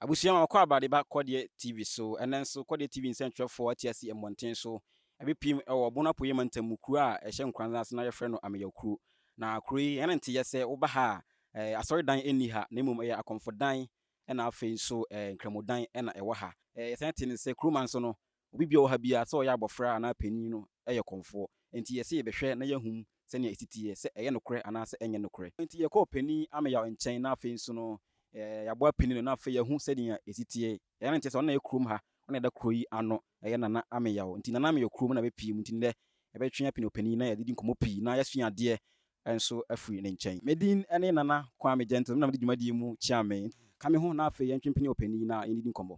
Abusua ma wɔkɔ abrade ba Kɔdeɛ TV so. Ɛnnɛ nso, Kɔdeɛ TV nsɛntwerɛfoɔ te ase mmɔnten so. Ɛbɛpirim wɔ Bono Apueeɛ Mantam mu kuro a ɛhyɛ Nkoranza ase na wɔfrɛ no Ameyaw Kuro. Na kuro yi, ɛne nteyɛ sɛ woba ha a, eh, asɔredan nni ha, na mmom ɛyɛ akɔmfodan na afei nso eh, nkramodan na ɛwɔ ha. Eh, yɛsan te no sɛ, kurom a nso no, Obi biara a ɔwɔ ha biara, sɛ ɔyɛ abɔfra anaa panyin no, yɛ kɔmfoɔ. Enti yɛse yɛbɛhwɛ na yɛahu sɛnea ɛsi teɛ, sɛ ɛyɛ nokorɛ anaasɛ ɛnyɛ nokorɛ. Enti yɛkɔɔ Panin Ameyaw nkyɛn na afei nso no, yɛaboa panin no na afei yɛahu sɛnea ɛsi teɛ. Ɛyɛ a na ɛnkyɛ sɛ ɔno na ɛyɛ kurom ha, ɔno na ɛda kuro yi ano, ɛyɛ Nana Ameyaw. Enti Nana Ameyaw kurom na bɛpue mu, enti nnɛ yɛbɛtwe apene ɔpanin na yɛadidi nkɔmmɔ pii na yɛasua adeɛ nso afiri ne nkyɛn. Me din ne Nana Kwame Gentles, me na mede dwumadie mu kyea me. Ka me ho na afei yɛntwe mpene ɔpanin na yɛndidi nkɔmmɔ.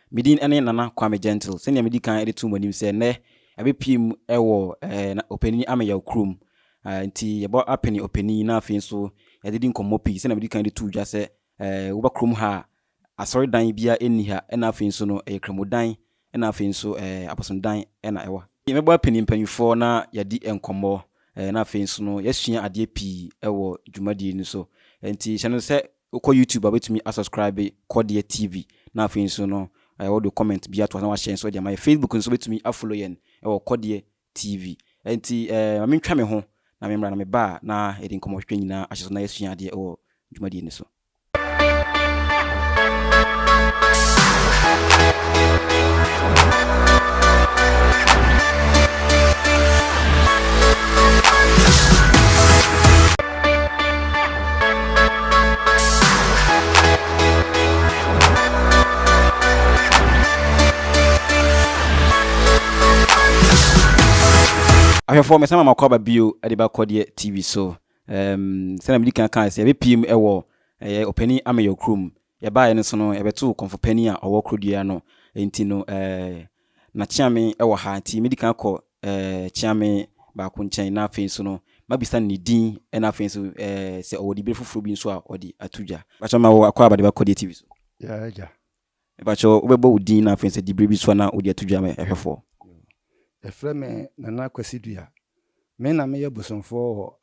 Me din ne Nana Kwame Gentle. Sɛnea medi kan de to mo anim sɛ nnɛ yɛabepue mu wɔ Opanin Ameyaw kurom. Nti yɛbɔ apene Opanin na afei nso yɛde di nkɔmmɔ pii. Sɛnea medi kan de too dwa sɛ woba kurom ha a, asɔredan biara nni ha na afei nso no ɛyɛ Kramodan na afei nso Abosomdan na ɛwɔ ha. Yɛbɛbɔ apene mpanyimfoɔ na yɛadi nkɔmmɔ na afei nso no yɛasua adeɛ pii wɔ dwumadie no so. Nti hyɛ no sɛ Wokɔ YouTube a wobɛtumi a subscribe Kɔdeɛ TV na afei nso no wode comment bi ato hɔ na wahyɛ nso de ama yɛn. Facebook nso wobɛtumi a follow yɛn wɔ Kɔdeɛ TV. Ɛnti ma mentwa me ho na memmra na meba a na yɛde nkɔmmɔ twetwe nyinaa ahyɛ so na yɛasua adeɛ wɔ dwumadie no so. ahwɛfoɔ mesan ma makɔ aba bio de ba kɔdeɛ tv so um, sɛna medi kan kaa sɛ yɛbɛpiem wɔ ɛyɛ ɔpani ameyɔ kurom Yɛbaeɛ no so no, yɛbɛtoo kɔmfo panin a ɔwɔ korodua ano. Enti no, eh, na Kyeame wɔ ha. Enti medi kan kɔ, eh, Kyeame baako nkyɛn, na afei nso no, mabisa no ne din, ɛna afei nso, eh, sɛ ɔwɔ dibere foforɔ bi nso a ɔde ato dwa. Mepakyɛ wo, ma wo akwaaba de bɛkɔ DTV so. Yeah, agya. Mepakyɛ wo, wobɛbɔ wo din na afei sɛ dibere bi nso a na wode ato dwa ma ɛhwɛfoɔ. Yɛfrɛ me Nana Kwasi Dua. Me na meyɛ bosomfoɔ wɔ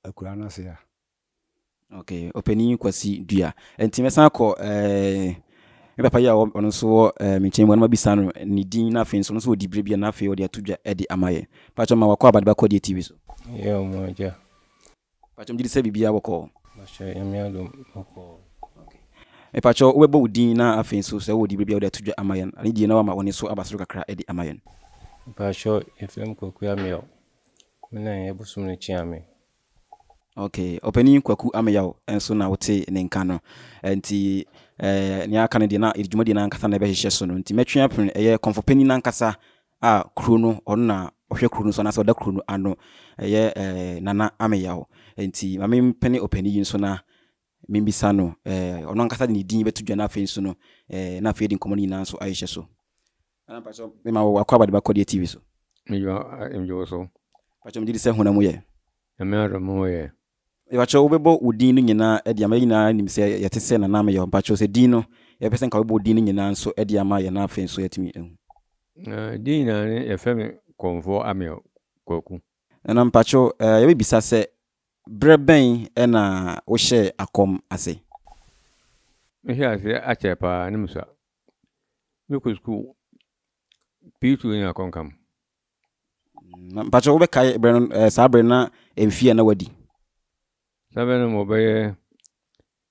akuraa no ase ha. Okay, ɔpanin Kwasi Dua. Nti mɛsan akɔ ɛɛ me papa yi a ɔno nso wɔ ɛɛ me nkyɛn mu, anoma bisa no ne din na afei nso ɔno nso ɔdi bere bi a na afei ɔde ato dwa de ama yɛ. Patro ma wakɔ abadeba kɔdeɛ TV so. Yɛ ɔmo agya. Patro mgye di sɛ biribiara bɔkɔɔ. Mahyɛ nyame adom bɔkɔɔ. Me patro wobɛbɔ wo din na afei nso sɛ wɔ di bere bi a ɔde ato dwa ama yɛn. Ade die na wama ɔne so aba soro kakra de ama yɛn. Me patro yɛfrɛ me Kwaku Amiel. Me na ɛyɛ bosom no kyeame. Okay, Ɔpanin Kwaku Ameyaw nso na wotee ne nka no. Nti nea aka no deɛ na dwumadie no ankasa na ɛbɛhyehyɛ so no. Nti mɛtwe apene ɛyɛ Kɔmfo Panin no ankasa a kuro no ɔno na ɔhwɛ kuro no so anaasɛ ɔda kuro no ano. Ɛyɛ Nana Ameyaw. Nti ma mempene ɔpanin yi nso na Mebisa no, eh, ɔno ankasa de ne din bɛto dwa na afei nso no, eh, na afei de nkɔmmɔ no nyinaa nso ayehyɛ so. Ana mpa so, mema wɔ wakɔ abade bakɔdeɛ TV so. Meyɔ mgyewo so. Mpa so, megye di sɛ honam wo yɛ. Nyame adom me ho yɛ. Mpa so, wobɛbɔ wo din no nyinaa ɛde ama yɛ nyinaa nim sɛ yɛte sɛ nana meyɔ. Mpa so, sɛ din no, yɛpɛ sɛ nka wobɛbɔ wo din no nyinaa nso ɛde ama yɛ na afei nso yɛatumi ahu. Na din nyinaa ne yɛfɛ me kɔmfoɔ ameyɔ kwaku. Nana mpa so, eh, yɛbɛbisa sɛ Bere bɛn na wohyɛɛ akɔm ase? Mehyɛɛ ase akyɛ paa ne musuaa. Mekɔ sukuu pii tu nya akɔnkam. Na mpakyɛ wobɛkae bere no saa bere na mfie a na wadi? Saa bere no mewɔ bɛyɛ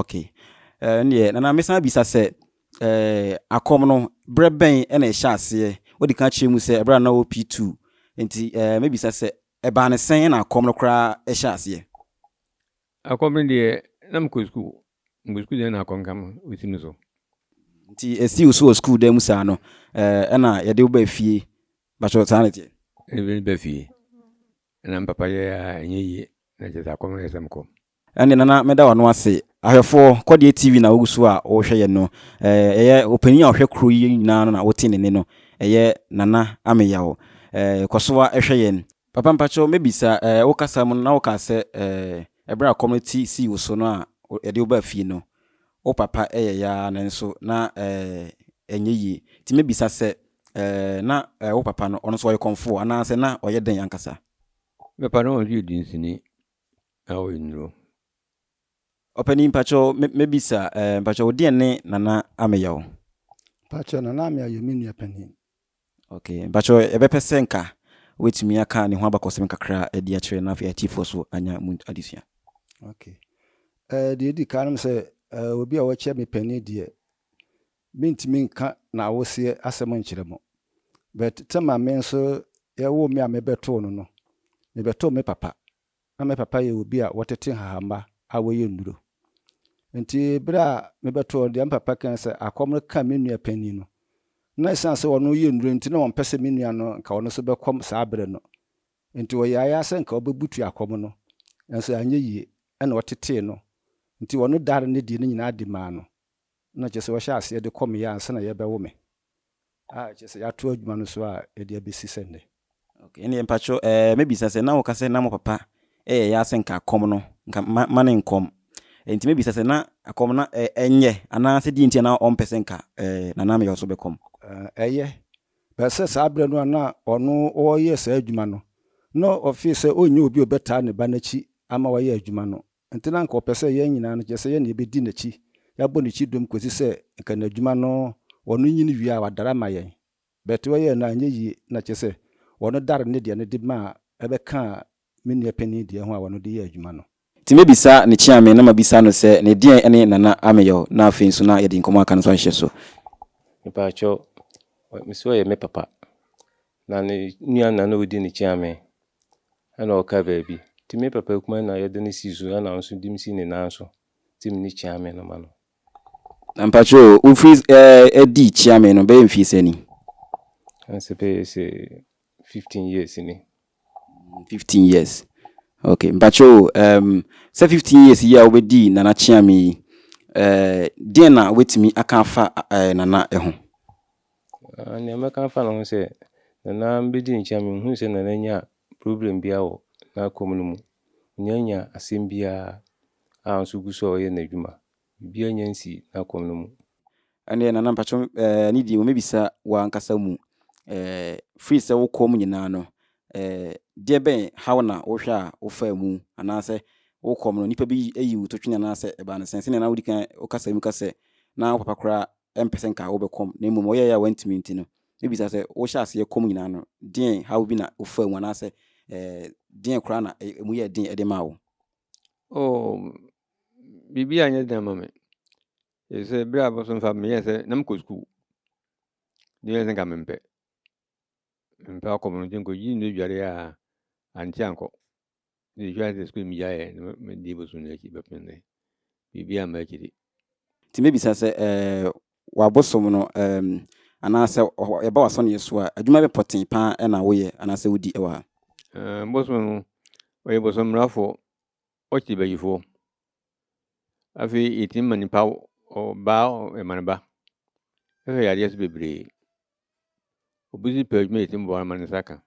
Okay. Eh, ɛnneɛ, nana mesan abisa sɛ, eh, akɔm no, berɛ bɛn na ɛhyɛ aseɛ? Wode ka kyerɛ mu sɛ ɛberɛ a na wɔ P2. Nti, eh, mebisa sɛ, ɛbaa ne sɛn na akɔm no koraa ɛhyɛ aseɛ? Akɔm no deɛ, na mekɔ sukuu. Mekɔ sukuu deɛ na akɔm ka me, ɔsi me so. Nti, ɛsi wo so wɔ sukuu dan mu saa no, eh, ɛna yɛde wo baa fie. Bakyɛ, saa na ɛteɛ? Ɛna mede ba fie. Na me papa yɛ a, ɛnyɛ yie. Na kyerɛ sɛ akɔm no yɛ sɛ mekɔ. Ɛnde na na meda w'ano ase. Ahwɛfoɔ, kɔ deɛ TV na wogu so a worehwɛ yɛn no. Eh, ɛyɛ opanin a ɔhwɛ kuro yi nyinaa no na wote ne nne no. Ɛyɛ Nana Ameyaw. Eh, kɔ so ara hwɛ yɛn. Papa mpakyɛw mɛbisa, eh, wo kasa mu no na wokaa sɛ, eh, ɛberɛ a ɛkɔm no ti sii wo so no a yɛde wo baa fie no, wo papa yɛeɛ ara nanso na, eh, ɛnyɛ yie. Nti mɛbisa sɛ, eh, na, eh, wo papa no, ɔno nso ɔyɛ kɔmfoɔ anaasɛ na ɔyɛ dɛn ankasa? Me papa no ɔno nso yɛ dunsini. na wo nnuro. Ɔpanin mpakyɛ mɛ bisa ɛɛ mpakyɛ wo deɛ ne nana ameya o. Mpakyɛ nana ameya yɛ me nua panin. Ok mpakyɛ yɛbɛpɛ sɛ nka wobɛtumi aka ne ho abakɔsɛm kakra ɛde akyerɛ na afei atifoɔ so anya mu adesua. Ok ɛɛ deɛ ɛdi kan nom sɛ ɛɛ obi a wɔkyɛ me panin deɛ Mentumi nka n'awoseɛ asɛm nkyerɛ mo, but tam a me nso yɛwoo me a mebɛtoo no no, mebɛtoo me papa. Na me papa yɛ obi a wɔtete nhahamma a wɔyɛ nnuro. Nti berɛ a mebɛtoo no, deɛ me papa kae sɛ akɔm no kaa me nua panin no, na ɛsiane sɛ ɔno yɛ nnuro nti na ɔmpɛ sɛ me nua no nka ɔno nso bɛkɔm saa berɛ no. Nti ɔyɛeɛ ara sɛ nka ɔbɛbutu akɔm no, nanso anyɛ yie, ɛna ɔtetee no. Nti ɔno dare no deɛ no nyinaa de maa no. na kyerɛ sɛ wɔhyɛ aseɛ de kɔ me yɛ ansa na yɛbɛwo me a kyerɛ sɛ yɛato adwuma no so a ɛde abɛsi sɛ nnɛ. Ok, ɛnneɛ mpakyɛw ɛɛ mɛbisa sɛ na woka sɛ na mo papa ɛyɛ yaa sɛ nka akɔm no nka ma ma ne nkɔm nti mɛbisa sɛ na akɔm no ɛ ɛnyɛ anaa sɛ deɛ nti a na ɔmpɛ sɛ nka ɛɛ Nana Ameyaw so bɛkɔm? Ɛɛ ɛyɛ, but sɛ saa berɛ no a na ɔno ɔreyɛ saa adwuma no na ɔfee sɛ ɔnnya obi a ɔbɛtaa ne ba no akyi ama wayɛ adwuma no Enti na anka ɔpɛ sɛ yɛn nyinaa no, kyerɛ sɛ yɛn na yɛbɛdi n'akyi, yɛabɔ n'akyi dom kɔsi sɛ anka n'adwuma no ɔno nyini wie a wadare ama yɛn. But ɔyɛɛ no a, anyɛ yie, na kyerɛ sɛ ɔno daree ne deɛ no de maa ɛbɛkaa me nua panin deɛ ho a ɔno de yɛɛ adwuma no. Enti mɛbisa ne kyeame na mabisa no sɛ ne deɛn ne Nana Ameyaw na afei nso na yɛde nkɔmmɔ a aka no nso ahyehyɛ so. Mepakyɛw, me se ɔyɛ me papa, na ne nua na na ɔdi ne kyeame. Ɛna ɔkaa baabi, Nti me papa akumaa na yɛde no sii so, ɛna nso de me sii ne nan so, te me ne Kyeame no ma no. Na mpakyɛ o, wofiri ɛɛ di Kyeame no bɛyɛ mfie sɛ ni? Ɛna sɛ bɛyɛ sɛ fifteen years ni. Fifteen years, okay. Mpakyɛ o, ɛɛm sɛ fifteen years yi a wobɛdi Nana Kyeame yi, ɛɛ deɛn na wobɛtumi aka afa ɛɛ Nana ho? Ah nea mɛka afa ne ho ne sɛ, Nana bɛdi ne nkyɛn a menhunu sɛ Nana nya problem biara wɔ n'akwan mu no mu. Ɔnnya nnya asɛm biara a nso ɔgu so a ɔyɛ n'adwuma. Biribiara nnya nsii n'akwan no mu. Ɛndeɛ Nana mpakyɛw eh ne deɛ mɛbisa wo ankasa mu eh firi sɛ wokɔɔ mu nyinaa no eh deɛ bɛn haw na wohwɛ a wofaa mu anaasɛ wokɔɔ mu no nnipa bi ayi wo totwene anaasɛ ɛbaa no sɛn? Sɛdeɛ na wodi kan wokasa mu ka sɛ na wo papa koraa ɛmpɛ sɛ nka wobɛkɔm na mmom ɔyɛeɛ a wantumi nti no, mɛbisa sɛ, wohyɛ aseɛ kɔm nyinaa no, deɛn haw bi na wofaa mu anaasɛ eh, deɛn koraa na ɛmu yɛɛ den de maa wo? Oh, biribi a nyɛ den ama me. Ɛfiri sɛ berɛ a bɔ so mfa meyɛɛ sɛ na mekɔ sukuu. Ne yɛ sɛ nka mempɛ. Mempɛ akɔm no nti nkɔgye nnua dwareɛ a ankyɛ ankɔ. mede twa de sukuu megyaeɛ na medi bosom no akyi bɛpem nnɛ biribi a m'akyi de nti mɛbisa sɛ eh, wabosom no eh, anaasɛ yɛba wasɔneɛ so a adwuma bɛ pɔtee paa ɛna woyɛ anaasɛ wodi ɛwɔ ha? Eh, bosom no ɔyɛ bosom mmarafoɔ ɔkye bayifoɔ afei yɛtumi ma nipa ɔbaa ɛma no ba ɛhwɛ yadeɛ so bebree obi si pɛ adwuma yɛtumi boa no ma ne nsa ka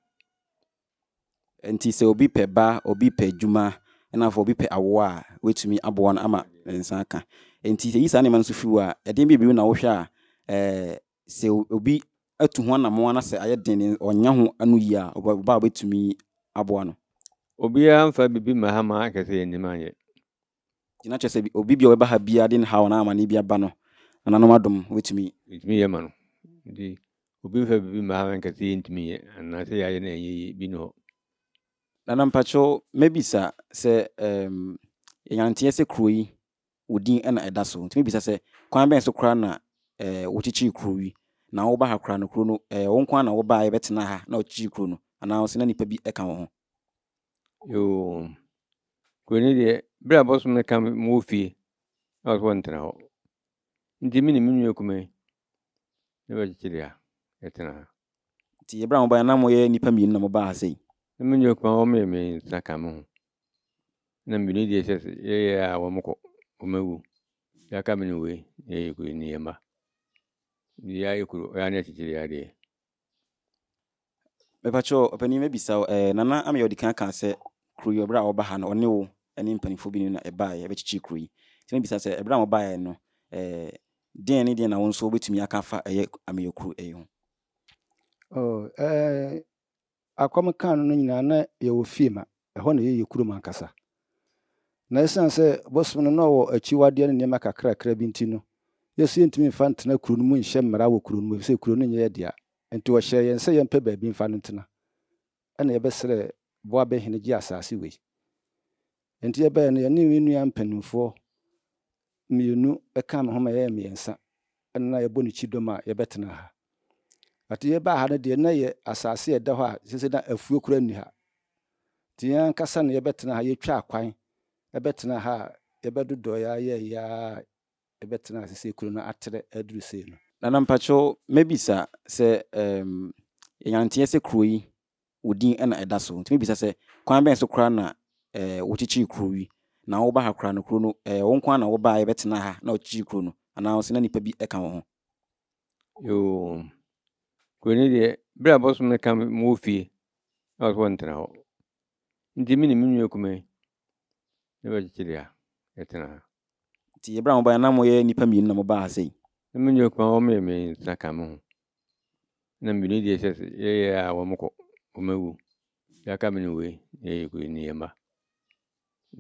Nti sɛ obi pɛ ba, obi pɛ adwuma, ɛna afei obi pɛ awoɔ a, wobɛtumi aboa no ama ne nsa aka. Nti sɛ yi saa nneɛma no nso fi hɔ a, ɛdeɛn bi bio na wohwɛ a ɛɛ sɛ obi atu ho anamɔn anasɛ ayɛ den ne ɔnya ho ano yie a, ɔba a wobɛtumi aboa no? Obiara mfa biribi mma ha ma akɛsɛ yɛnnim anyɛ. Nti na kyerɛ sɛ obi bi a ɔbɛba ha biara de ne haw anaa amanneɛ bi aba no, nananom adom wobɛtumi. Yɛntumi yɛ ma no. Nti obi mfa biribi mma ha nka sɛ yɛntumi nyɛ anaa sɛ yɛayɛ no ɛnyɛ yie. Bi nni hɔ. Nana mpakyɛw mɛbisa sɛ um, yɛnyanteɛ sɛ kuro yi wo din na ɛda so nti mɛbisa sɛ kwan bɛn so koraa na eh, wokyekyere kuro yi na woba ha koraa no kuro no eh, wo nko na wobaa yɛbɛtena ha na wokyekyere kuro no anaa sɛ na nipa bi ɛka wo ho? Yoo, Kuro no deɛ berɛ a bɔsom no ka ma wɔ fie na wɔsɛ wɔntena hɔ nti me ne me nua kume ne bɛkyekye deɛ yɛtena ha. Nti berɛ a mobaeɛ na moyɛ nnipa mmienu na mobaa ha sei? Na me nua kume wɔn yɛ mmiɛnsa ka me ho na mmienu deɛ sɛ yɛyɛ a wɔn kɔ wɔn awu yɛaka me ne wei na yɛyɛ kuro ni yɛn mma deɛ yɛayɛ kuro yɛa ne akyekyere adeɛ. Mepa kyɛw, ɔpanyin mɛbisa wo, eh, nana ama yɛ ɔde kan kaa sɛ kuro yi ɔbrɛ a ɔba ha no ɔne wo ɛne mpanimfoɔ bi na ɛbaa yɛ ɛbɛkyekyere kuro yi. Nti mɛbisa sɛ ɛbrɛ a ɔbaa yɛ no, eh, deɛn ne deɛn na wo nso wobɛtumi aka afa ɛyɛ ameyɛ kuro ɛyi ho? Oh, eh, a kɔm kaa no no nyinaa na yɛwɔ fie ma ɛhɔ na ɛyɛ yɛn kurom ankasa. Na ɛsiane sɛ bosom no na ɔwɔ akyiwadeɛ ne nneɛma kakrakra bi nti no, yɛn nso yɛntumi mfa ntena kuro no mu nhyɛ mmara wɔ kuro no mu efisɛ kuro no nyɛ yɛn dea. Enti ɔhyɛɛ yɛn sɛ yɛmpɛ baabi mfa no ntena. Ɛnna yɛbɛsrɛɛ Boabɛhene gye asase wei. Enti yɛbaeɛ no, yɛne me nua mpanimfoɔ mmienu kaa me ho ma yɛyɛɛ mmiɛnsa ɛna na yɛbɔ no kyidɔm a yɛbɛtena ha. Ate yɛbaa ha no deɛ, na yɛ asase a ɛda hɔ a sese na afuo koraa nni ha. Nti yɛn ankasa na yɛbɛtena ha, yɛtwaa kwan ɛbɛtena ha a yɛbɛdodɔeɛ ara yɛɛyɛ ara a ɛbɛtena ha sese kuro no atrɛ aduru sei no. Nana mpakyɛw mɛbisa sɛ ehm yɛnyanteɛ sɛ kuro yi wo din na ɛda so. Wotumi bisa sɛ, Kwan bɛn so koraa na wokyekyee kurow yi? Na woba ha koraa no, kurow no, ɛyɛ wo nko ara na wobae bɛtenaa ha na wokyekyee kurow no, anaasɛ na nnipa bi ka wo ho? Yoo, kurow no deɛ, bere a bɔsom no ka me ma wɔ fie na wɔse wɔntena hɔ nti, me ne me nua kumaa yi na bɛkyekyeree ha, yɛtena ha. Nti bere a mobae no, na moyɛ nnipa mmienu na mobaa ha sei? Na me nua kumaa a ɔmmɛn me nsa ka me ho. na mmienu deɛ sɛ yɛyɛ a wɔn kɔ wɔn awu yɛaka me ne wei na yɛyɛ kuro ne yɛ mma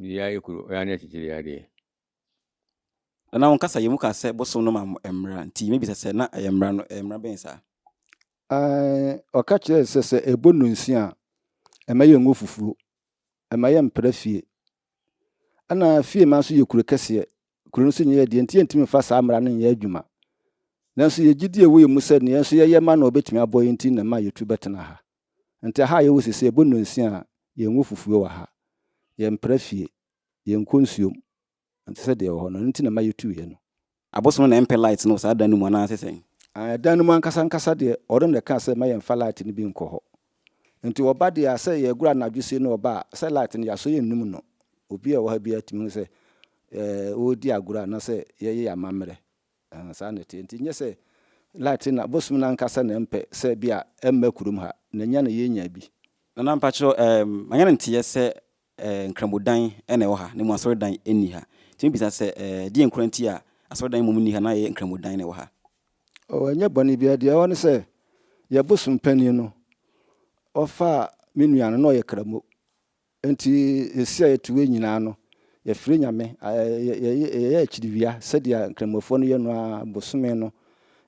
deɛ ayɛ kuro ɛyɛ ne akyekyere adeɛ na wɔn kasa yɛ mu ka sɛ bosom no ma mo mmara nti mebisa sɛ na ɛyɛ mmara no ɛyɛ mmara bɛn saa ɔka kyerɛ sɛ sɛ ɛbɔ nnonsia a ɛma yɛ ngo fufuo ɛma yɛ mpra fie Ɛna Fiema nso yɛ kuro kɛseɛ. Kuro no so nyɛ yɛ deɛ nti yɛntumi mfa saa mmara no nyɛ adwuma. Nanso yɛn gyidie wɔ yɛn mu sɛ deɛ yɛn nso yɛyɛ ma no a ɔbɛtumi aboa yɛn nti na ɛma yɛtu bɛtena ha. Nti aha a yɛwɔ seesei ɛbɔ nnɔnsia a yɛnwɔ fufuo wɔ ha. Yɛmpra fie. Yɛnkɔ nsuom. Ɛnte sɛ deɛ ɛwɔ hɔ no. Ɛno nti na ɛma yɛtuiɛ no. Abosom na ɛmpɛ light no wɔ saa dan no mu anaasɛ sɛn? Aah, dan no mu ankasa ankasa deɛ, ɔno na ɛkaa sɛ mma yɛmfa light no bi nkɔ hɔ. Enti ɔba deɛ a, sɛ yɛregoro anadwo sie no ɔba a, sɛ light no, yɛasɔ yɛn nnum no. Obiara a ɔwɔ ha biara tumi hu sɛ, eh, ɔredi agorɔ anaasɛ yɛreyɛ yɛn amammerɛ. Eh, saa na ɛteɛ. Enti nyɛ sɛ light no, abosom no ankasa na ɛmpɛ sɛ bi a ɛmma kurom ha, na ɛnya na yɛnya bi. Nana, mpakyerɛ, eh, manya no nteɛ sɛ eh, Nkramodan na ɛwɔ ha, na mmom asɔredan nni ha. Nti mebisa sɛ, eh, deɛn koraa nti a asɔredan mmom nni ha na ɛyɛ Nkramodan na ɛwɔ ha? Oh, ɛnyɛ bɔne biara. Deɛ ɛwɔ ne sɛ, yɛn bosom panin no, ɔfaa me nua no, na ɔyɛ Kramo. Nti ɛsi a yɛto wei nyinaa no, yɛfrɛ Nyame, eh, yɛyɛ akyiriwia sɛdeɛ Nkramofoɔ no yɛ no ara, bosome no,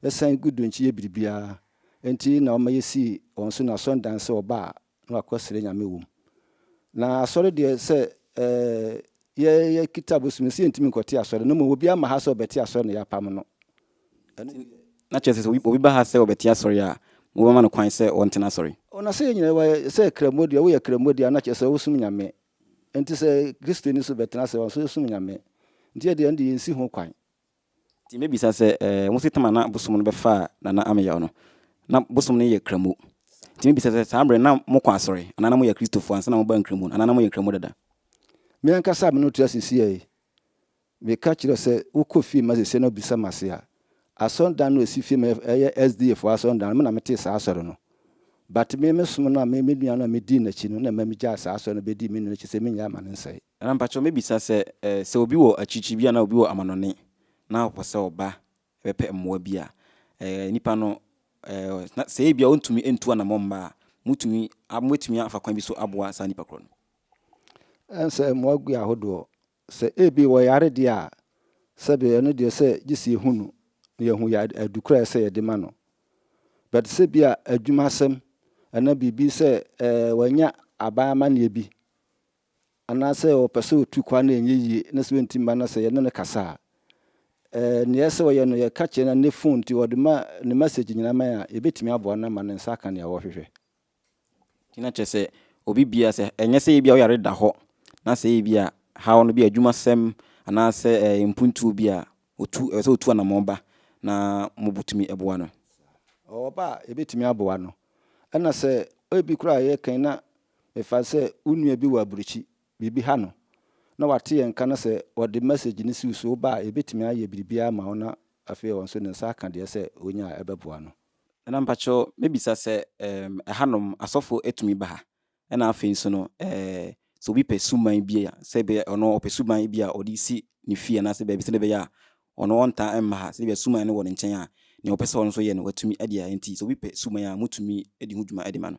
ɛsan gu do nti yɛ biribiara. Nti na ɔma yɛsii wɔn so no asɔredan sɛ wɔba a na wakɔ srɛ Nyame wom. Na asɔre deɛ sɛ yɛ yɛ kita bosom nsi yɛntumi nkɔte asɔre no mmom obi ama ha sɛ ɔbɛte asɔre na yɛapam no. Na kyerɛ sɛ obi ba ha sɛ ɔbɛte asɔre a mobɛma no kwan sɛ ɔntena asɔre. O na sɛ yɛn nyinaa wayɛ sɛ kramo deɛ woyɛ kramo deɛ a na kyerɛ sɛ wosom Nyame nti sɛ Kristoni nso bɛtena ase ɔnso ɔsom Nyame nti yɛdeɛ ɛnde yɛnsi ho kwan Nti mɛbisa sɛ, eh, wo se tam a na bosom no bɛfaa Nana Ameyaw no, na bosom no yɛ Kramoh. Nti mɛbisa sɛ, saa berɛ no na mokɔ asɔre, anaa na moyɛ Akristofoɔ ansa na mobaa Nkramoh no, anaa na moyɛ Nkramoh dada? Me ankasa a me ne wo te ase seesei yi, meka kyerɛ wo sɛ, wokɔ fie ma seesei na wobisa me ase a, asɔredan no a ɛsi fie ma yɛ, ɛyɛ SDA foɔ asɔredan no, me na metee saa asɔre no. But me, me som no a me, me nua no a medii n'akyi no na ɛma megyaa saa asɔre no bɛdii me nua no akyi sɛ menyae ma no nsɛe. Na mpakyɛw mebisa sɛ, sɛ obi wɔ akyirikyiri bi anaa obi wɔ amanɔne na ɔpɛ sɛ ɔba bɛpɛ mmoa bi a, nipa no, na sɛ ebia ɔntumi ntu anammɔn mma a, mutumi, mubetumi afa kwan bi so aboa saa nipa korɔ no? Ɛnsɛ mmoa gu ahodoɔ. Sɛ ebi wɔyare deɛ a, sɛbe ɛno deɛ sɛ gye sɛ yɛhu no na yɛhu adu korɔ a ɛsɛ sɛ yɛde ma no. But sɛ bi a adwuma asɛm anaa biribi sɛ wanya aban amanneɛ bi anaasɛ ɔpɛ sɛ ɔtu kwan a ɛnyɛ yie na sɛ ɔnti mma no sɛ yɛne no kasa a, nea ɛyɛ sɛ ɔyɛ no yɛka kyerɛ no ne fon nti ɔde ma ne message nyinaa ma yɛn a, yɛbɛtumi aboa no ama ne nsa aka nea ɔrehwehwɛ. Nti na kyerɛ sɛ obi biara sɛ ɛnyɛ sɛ ebia wo yare da hɔ na sɛ ebia haw no bi a adwumasɛm anaasɛ mpuntuo bi a ɔtu, ɛwɔ sɛ ɔtu anammɔn ba na mobɛtumi aboa no. Ɔba a yɛbɛtumi aboa no. Ɛna sɛ ebi koraa yɛkan na Mefa no sɛ wo nua bi wɔ aburokyi, biribi ha no, na wate yɛn nka na sɛ ɔde message no si wo so, woba a, yɛbɛtumi ayɛ biribiara ama wo na afei ɔno nso ne nsa aka deɛ sɛ ɔnya a ɛbɛboa no. Ɛna mpakyɛw mɛbisa sɛ ɛɛm ɛhanom asɔfo tumi ba ha? Ɛna afei nso no ɛɛ sɛ obi pɛ suban bi a, sɛ ebia ɔno ɔpɛ suban bi a ɔde resi ne fie anaasɛ baabi sɛdeɛ ɛbɛyɛ a ɔno ɔntaa mma ha, sɛ ebia suban no wɔ ne nkyɛn a, nea ɔpɛ sɛ ɔno nso yɛ no, watumi de ayɛ. Enti sɛ obi pɛ suban a, motumi di ho dwuma de ma no.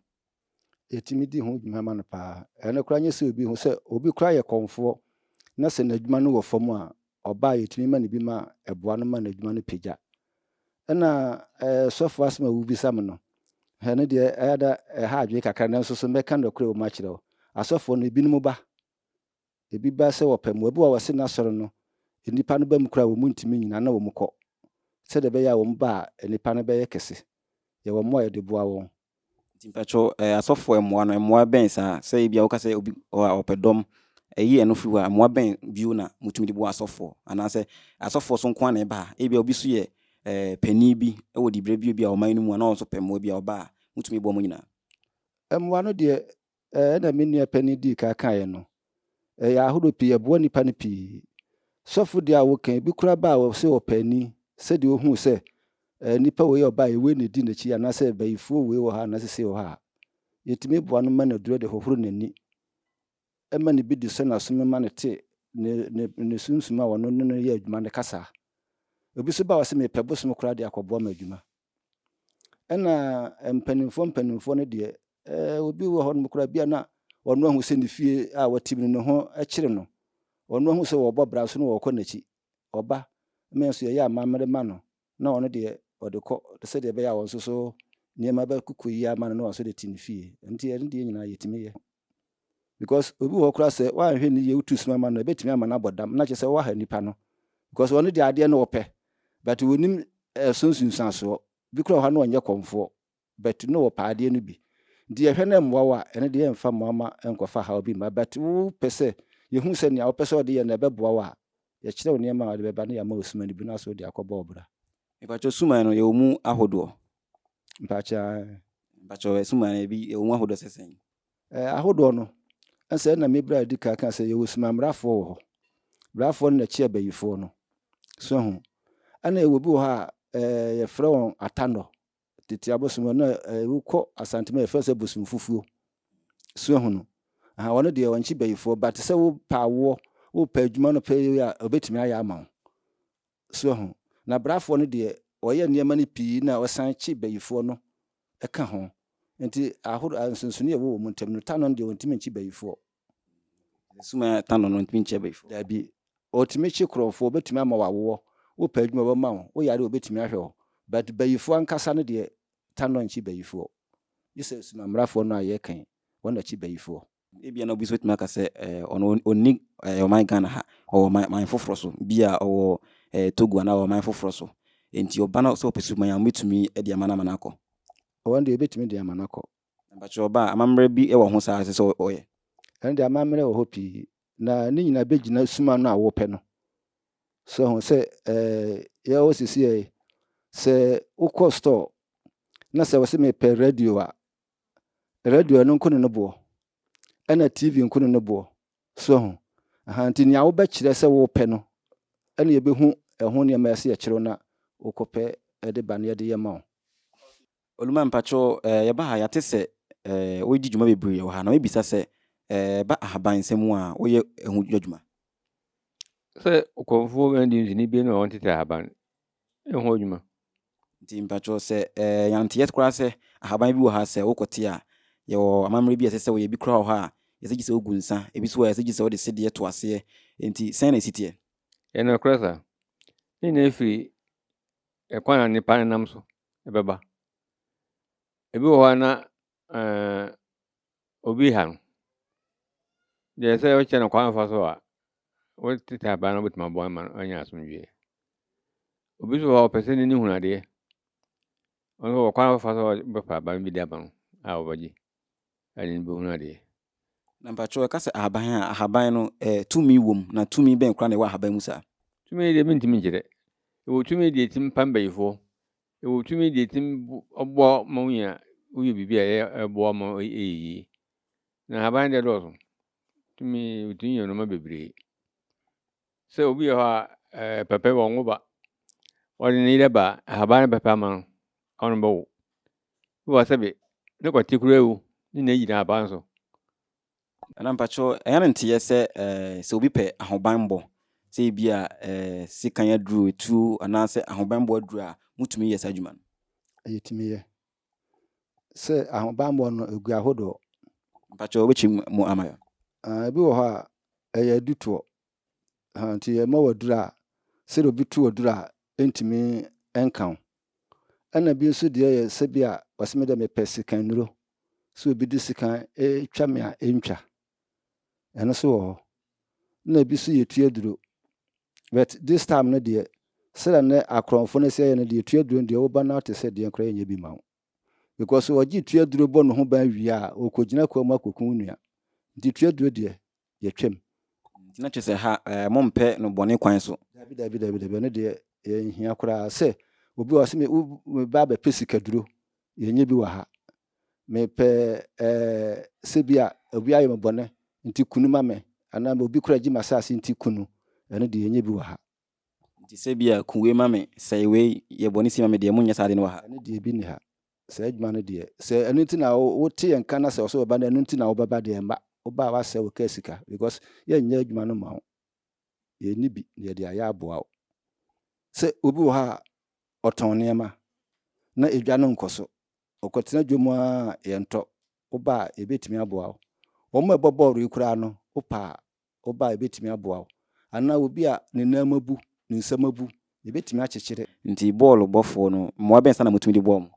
yɛtumi di ho dwuma ma no paa. Ɛno koraa nyɛ sɛ obi ho sɛ obi koraa yɛ kɔmfoɔ na sɛ n'adwuma no wɔ fam a ɔbaa yɛtumi ma no bi ma ɛboa no ma n'adwuma no pagya. Ɛna ɛɛ sɔfo asɛm a wobisa me no ɛno deɛ ɛyɛ da ɛha adwene kakra nanso so mɛka nokorɛ wɔ mu akyerɛ wo. Asɔfoɔ no ebinom ba Ebi ba sɛ wɔpɛ mmoa. Ebi wɔ hɔ a wɔse n'asɔre no, nnipa no ba mu koraa a, wɔn ntumi nnyina na wɔn kɔ, sɛdeɛ ɛbɛyɛ a wɔn ba a nnipa no bɛyɛ kɛse. Yɛwɔ mmoa a yɛde boa wɔn. Nti mpakyɛw eh, asɔfoɔ mmoa no, mmoa bɛn saa? Sɛ ebia woka sɛ obi wɔ hɔ a ɔpɛ dɔm, ɛyi ɛno firi hɔ a, mmoa bɛn bio na motumi de boa asɔfoɔ? Anaasɛ asɔfoɔ so nko ara na ɛba a? Ebia obi so yɛ eh, panin bi wɔ diberɛ bio bi a ɔman no mu a, na ɔno nso pɛ mmoa bi a, ɔba a, motumi boa mo nyinaa? Mmoa no deɛ, Ɛna me nua panyin dii kan kaeɛ no. Ɛyɛ ahorow pii, ɛboa nnipa no pii. Sɔfo deɛ a woka yi, ebi koraa baa hɔ sɛ ɔpɛ ani, sɛdeɛ ohuu sɛ ɛɛ nipa wei a ɔbaa yi, wei na edi n'akyi anaasɛ bayifuo wei wɔ ha anaa sesei wɔ ha a, yɛtumi boa no ma no duro de hohoro n'ani ma ne bi de sɔ n'aso mu ma no te ne, ne, ne sunsum a ɔno ne no yɛ adwuma no kasa. Ebi nso baa hɔ sɛ mepɛ bosom koraa de akɔboa ma adwuma. Ɛna mpanimfoɔ mpanimfoɔ no deɛ, eh, obi wɔ hɔ nom koraa bi a na ɔno ahu sɛ ne fie a wɔte mu no ne ho kyere no. Ɔno ahu sɛ wɔbɔ bra so na wɔkɔ n'akyi. Ɔba, me nso yɛyɛ amammerɛ ma no, na ɔno deɛ ɔde kɔ sɛdeɛ ɛbɛyɛ a wɔn nso so nneɛma bɛkokɔ yie ama no na wɔn nso de te ne fie. Nti ɛno deɛ nyinaa yɛtumi yɛ. because obi wɔ hɔ koraa sɛ woanhwɛ no yie wotu sima ma no a ɛbɛtumi ama no abɔ dam na kyerɛ sɛ woaha nipa no because ɔno deɛ adeɛ no ɔpɛ but wɔnim ɛso nsunsuansoɔ bi koraa wɔ hɔ a na ɔnyɛ kɔmfoɔ but na ɔpɛ adeɛ no bi nti yɛhwɛ na ɛmmoa wo a ɛno deɛ yɛmfa mmoa ma ɛnkɔfa haw bi mma but wopɛ sɛ yɛhu sɛ nea wopɛ sɛ ɔde yɛ no ɛbɛboa wo a yɛkyerɛ wo nneɛma a ɔde bɛba na yɛama wo suma no bi na sɛ wode akɔbɔ ɔbra. Mpakyɛw suman no yɛwɔ mu ahodoɔ? Mpakyɛw suman no ebi yɛwɔ mu ahodoɔ sɛ sɛn? Ɛɛ, ahodoɔ no, ɛnsɛ ɛna me berɛ a ɛdi kan kaa sɛ yɛwɔ Sumammarafoɔ wɔ hɔ. Berafoɔ no na ɛkyi Abayifoɔ no. So ahu? Ɛna yɛwɔ bi wɔ hɔ a, ɛɛ, yɛfrɛ wɔn Atandɔ. Tete abosom no, na ɛɛ, wokɔ Asante mu a, yɛfrɛ sɛ Bosomfufuo. So ahu no? Aha, wɔn deɛ, wɔnkyi Bayifoɔ, but sɛ wopɛ awoɔ, wopɛ adwuma no pɛyɛ a, wɔbɛtumi ayɛ ama wo. soa ho. Na brafoɔ no deɛ ɔyɛ nneɛma no pii na ɔsan kye bayifoɔ no ka ho. Nti ahoro a nsonsonoeɛ a ɛwɔ wɔn ntam no, Tano no deɛ ɔntumi nkye bayifoɔ. Nti suma a Tano no ntumi nkyɛ bayifoɔ? Daabi. Ɔtumi kye korɔmfoɔ, ɔbɛtumi ama wo awoɔ, wopɛ adwuma ɔbɛma wo, woyare a ɔbɛtumi ahwɛ wo. But bayifoɔ ankasa no deɛ Tano nkye bayifoɔ. Gye sɛ suma mmarafoɔ no a yɛreka yi, wɔn na kye bayifoɔ. Ebia na obi nso bɛtumi aka sɛ ɔno ɔnni ɔman Ghana ha, ɔwɔ ɔman foforɔ so, bi a ɔwɔ Togo anaa ɔwɔ ɔman foforɔ so. Enti ɔba no sɛ ɔpɛ suban a, wɔbɛtumi de ama no ama no akɔ? Ɔno deɛ wɔbɛtumi de ama no akɔ. Mpakyɛ ɔba a, amammerɛ bi wɔ ho saa a ɛsɛ sɛ ɔyɛ? Ɛno deɛ amammerɛ wɔ hɔ pii, na ne nyinaa bɛgyina suma no a wɔpɛ no. So ho sɛ yɛwɔ sisi yɛ sɛ wokɔ store na sɛ wɔsɛ mepɛ radio a, radio no nko ne no boɔ, ɛna TV nko ne no boɔ. So ahu? Aha, nti nea wobɛkyerɛ sɛ wopɛ no, ɛna yɛbɛhu ɛho nneɛma a ɛsɛ yɛkyerɛ wo na wokɔpɛ de ba na yɛde yɛ ma wo. Oluma, mpakyɛw, eh, yɛba ha yɛate sɛ eh, woyedi dwuma bebree wɔ ha, na mebisa sɛ eh, ɛba ahaban nsɛm mu a woyɛ ɛho adwuma? Sɛ ɔkɔmfoɔ bɛn de nsini bie na wɔn tete ahaban ho adwuma. Nti mpakyɛw sɛ ɛɛ yɛnte yɛ koraa sɛ ahaban bi wɔ ha sɛ wokɔ te a yɛwɔ amammerɛ bi a ɛsɛ sɛ wɔyɛ bi koraa wɔ ha a yɛsɛ gye sɛ wogu nsa ebi so a yɛsɛ gye sɛ wɔde sedeɛ to aseɛ nti sɛn na ɛsi teɛ? Yɛ no korɛ saa. Ne nyinaa ɛfiri ɛkwan a nipa nenam so ɛbɛba. Ebi wɔ hɔ a na ɛɛ Obi ha no, deɛ sɛ wokyɛ no kwan fa so a, wotete aban no wobɛtumi aboa no ma no anya asomdwoeɛ. Obi nso wɔ hɔ a ɔpɛ sɛ n'ani hunu adeɛ. Ɔno nso wɔ kwan fa so a wobɛfa aban bi de ama no a wɔbɛgye a n'ani bɛhunu adeɛ. Na mpakyɛw ɛka sɛ ahaban a, ahaban no eh, tumi wom na tumi bɛn koraa na ɛwɔ ahaban mu saa? Tumi deɛ mentumi nkyerɛ. Ɛwɔ tumi deɛ ɛtumi pa mbayifoɔ, Ewɔ tumi de etsim boa wo ma wonya woyɛ biribi a ɛboa wo ma ɔyɛ yie. Na nhaban deɛ dɔɔso. Tumi otumi yɛ nnoɔma bebree. Sɛ obi wɔ hɔ a ɛɛ pɛpɛ wɔ nwo ba. Ɔde ne yerɛ ba a ahaban no pɛpɛ ama no ɔne no bɛwo. Bi wɔ hɔ sɛbe ne kɔte koraa wu ne nyina gyina ahaban so. Nana mpakyɛw, ɛyɛ no nteyɛ sɛ sɛ obi pɛ ahobanbɔ, sɛ ebi a sekan aduru, etuo anaasɛ ahobanbɔ aduru a, motumi yɛ saa adwuma no? Yɛtumi yɛ. Sɛ ahobanbɔ no, egu ahodoɔ. Mpakyɛw, wobɛkyerɛ mu ama yɛn? Ebi wɔ hɔ a, ɛyɛ adutoɔ. Ahaa nti yɛma wo aduru a sɛdeɛ obi tu aduru a ɛntumi nka wo. Ɛna bi nso deɛ yɛ sɛ bi a ɔsɛ me deɛ mepɛ sika nnuro. Sɛ obi de sika twa me a ɛntwa. Ɛno nso wɔ hɔ. Na ebi nso yɛtu aduro. But this time no deɛ sɛdeɛ ne akorɔmfo no sɛ yɛ no deɛ yɛtu aduro no deɛ woba no te sɛ deɛ koraa yɛnyɛ bi ma wo. because ɔgye tua duro bɔ ne ho ban wie a ɔrekɔgyina kwa mu akɔku wo nua nti tua duro deɛ yɛtwam. Nti na kyesɛ ha eh mo mpɛ no bɔne kwan so. Dabi dabi dabi dabi ɛno deɛ yɛnhia koraa sɛ obi wɔ ha sɛ me ba abɛpɛ sika duro yɛnyɛ bi wɔ ha mepɛ eh sɛ bi a obi ayɛ me bɔne nti kunu ma me anaa obi koraa gye m'asaase nti kunu ɛno deɛ yɛnyɛ bi wɔ ha. Nti sɛ bi a, ku wei ma me, sɛe wei, yɛ bɔne si ma me deɛ, monnyɛ saa ade no wɔ ha. Ɛno deɛ, bi nni ha. Saa adwuma no deɛ, sɛ ɛno nti na wote yɛn nka na sɛ ɔsɛ wɔba na ɛno nti na wobɛba deɛ, mma. Woba a, woasɛe wo kaa sika, because yɛnnyɛ adwuma no mma wo. Yɛnni bi na yɛde ayɛ aboa wo. Sɛ obi wɔ ha a, ɔtɔn nneɛma, na edwa no nkɔ so, ɔkɔtena dwam ara a, yɛntɔ. Woba a, yɛbɛtumi aboa wo. Wɔn a ɛbɔ bɔɔlo yi koraa no, wopɛ a, ɔba a ebetumi aboa wo, anaa obi a ne nan mu abu, ne nsam abu, ebetumi akyekyere. Nti bɔɔlo bɔfo no, mmoa bɛn sa na mutumi de boa wɔn?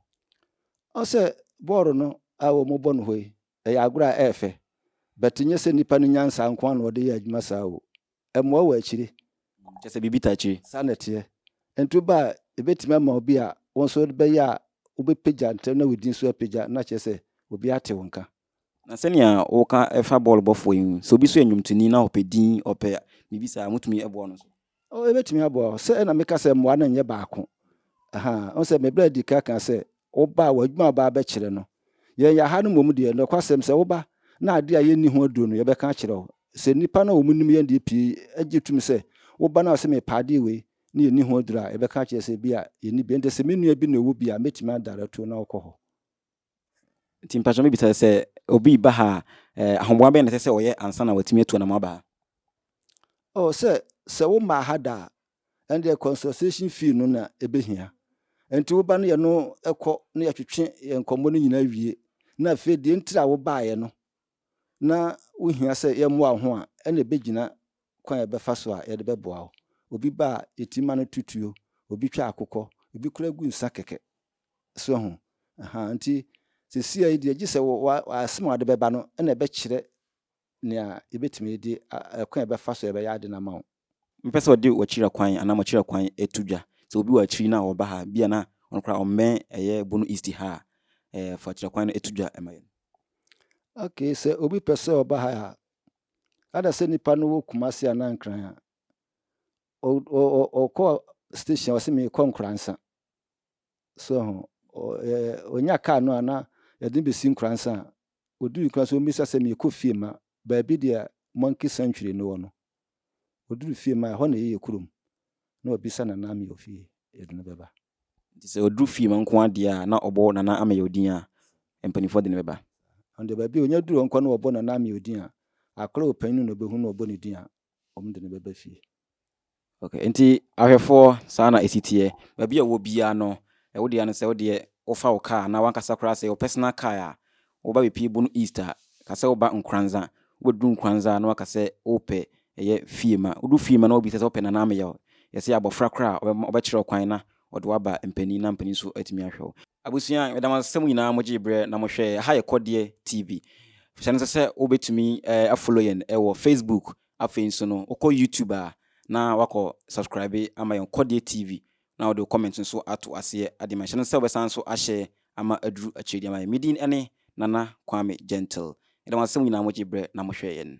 Ɔsɛ bɔɔlo no a wɔbɔ no hɔ yi, ɛyɛ agorɔ a ɛyɛ fɛ, but nyɛ sɛ nipa no nyansa nko ara na ɔde yɛ adwuma saa o. Ɛmmoa wɔ akyire. Kyerɛ sɛ biribi ta akyire. Saa na ɛteɛ. Nti woba a, ebetumi ama wo bi a, wo nso wode bɛyɛ a, wobɛpagya ntɛm na wo din nso apagya, na kyerɛ sɛ obi ate wo nka. Na sɛnea woka fa bɔɔl bɔfoɔ yi sɛ obi so yɛ nnwomtoni na ɔpɛ din ɔpɛ biribi saa motumi ɛboa no so oh ɛbɛtumi aboa hɔ sɛ ɛna meka sɛ mmoa no nyɛ baako aha ɔn sɛ mebrɛ di ka ka sɛ woba a w'adwuma ɔba bɛkyerɛ no yɛn yɛaha no mmom deɛ nɔkwasɛm sɛ woba na adeɛ a yɛnni ho aduro no yɛbɛka akyerɛ wo sɛ nnipa no a wɔn nim yɛn deɛ pii agye tum sɛ woba no a sɛ mepɛ adeɛ wei ne yɛnni ho aduro a yɛbɛka akyerɛ sɛ bi a yɛnni bi ɛnde sɛ me nua bi na ɛwɔ bi a mɛtumi adarɛto na wokɔ hɔ Nti mpakyɛ me bisa sɛ obi ba ha eh, ahoboa bɛn na ɛsɛ sɛ ɔyɛ ansa na watumi atu anam aba ha? Oh, sɛ sɛ wo maa ha da a, ɛndeɛ consultation fee no na ɛbɛhia. Nti wo ba no yɛ no ɛkɔ na yɛtwetwe yɛn nkɔmmɔ no nyinaa wie. Na afei deɛ ntira a wo baeɛ no na wohia sɛ yɛmmoa wo ho a, ɛna ɛbɛgyina kwan a yɛbɛfa so a yɛde bɛboa wo. Obi ba a, yɛtumi ma no to tuo, obi twa akokɔ, obi koraa gu nsa kɛkɛ. So ahu? Ahaa, nti sesiei deɛ gye sɛ w'asem a wɔde bɛba no na ɛbɛkyerɛ nea yɛbɛtumi de, kwan a yɛbɛfa so a ɛbɛyɛ ade no ama wo. Mɛpɛ sɛ wɔde w'akyiri kwan anaa m'akyiri kwan to dwa. Sɛ obi wɔ akyiri na ɔba ha a, bi a na ɔno koraa ɔmmɛn ɛyɛ Bono East ha a, ɛɛ, fa akyiri kwan no to dwa ma yɛn. Ok, sɛ obi pɛ sɛ ɔba ha a, ada sɛ nipa no wɔ Kumasi anaa Nkran a, ɔkɔ station a ɔsɛ mekɔ Nkransa. So ho. Ɛ, onya kaa no a na yɛde no besi Nkoransa a, oduu Nkoransa ommisa sɛ meekɔ fie ma baabi deɛ Monkey Sanctuary no wɔ no. Oduru fie ma ɛhɔ na ɛyɛ yɛ kurom. Na wabisa Nana Ameyaw fie, yɛde no bɛba. Nti sɛ ɔduru fie ma nko ara deɛ a, na ɔbɔ Nana Ameyaw din a mpanimfoɔ de no bɛba. Ɔno deɛ baabi a onya duru hɔ nko ara na wɔbɔ Nana Ameyaw din a, akwadaa a ɔpanyin no na ɔbɛhu na wɔbɔ ne din a, wɔde no bɛba fie. Ok, nti ahwɛfoɔ saa na ɛsi teɛ. Baabi a wɔ biara no, ɛwo deɛ no sɛ wo deɛ wofa wo car anaa wankasa koraa sɛ yɛwɔ personal car a, woba bepie Bono East a, ka sɛ woba Nkoranza. Wobɛduru Nkoranza na waka sɛ wopɛ ɛyɛ Fiema. Wodu Fiema na wobisa sɛ wopɛ Nana Ameyaw. Yɛse abɔfra koraa a ɔbɛma ɔbɛkyerɛ wo kwan na ɔde wo aba mpanin na mpanin nso atumi ahwɛ wo. Abusua, meda mo ase sɛ mo nyinaa mo gyee berɛ na mo hwɛɛ Aha yɛ Kɔdeɛ TV. Hyɛ no nso sɛ wobɛtumi a follow yɛn wɔ Facebook Afei nso no wokɔ YouTube a na wakɔ subscribe ama yɛn Kɔdeɛ TV na wode wo comment nso ato aseɛ ade ma nhyɛ no sɛ wobɛsan nso ahyɛ ama aduru akyire de ama yɛn. Me din ne Nana Kwame Gentle. Yɛda mo ase sɛ mo nyinaa mogye berɛ na mohwɛɛ yɛn.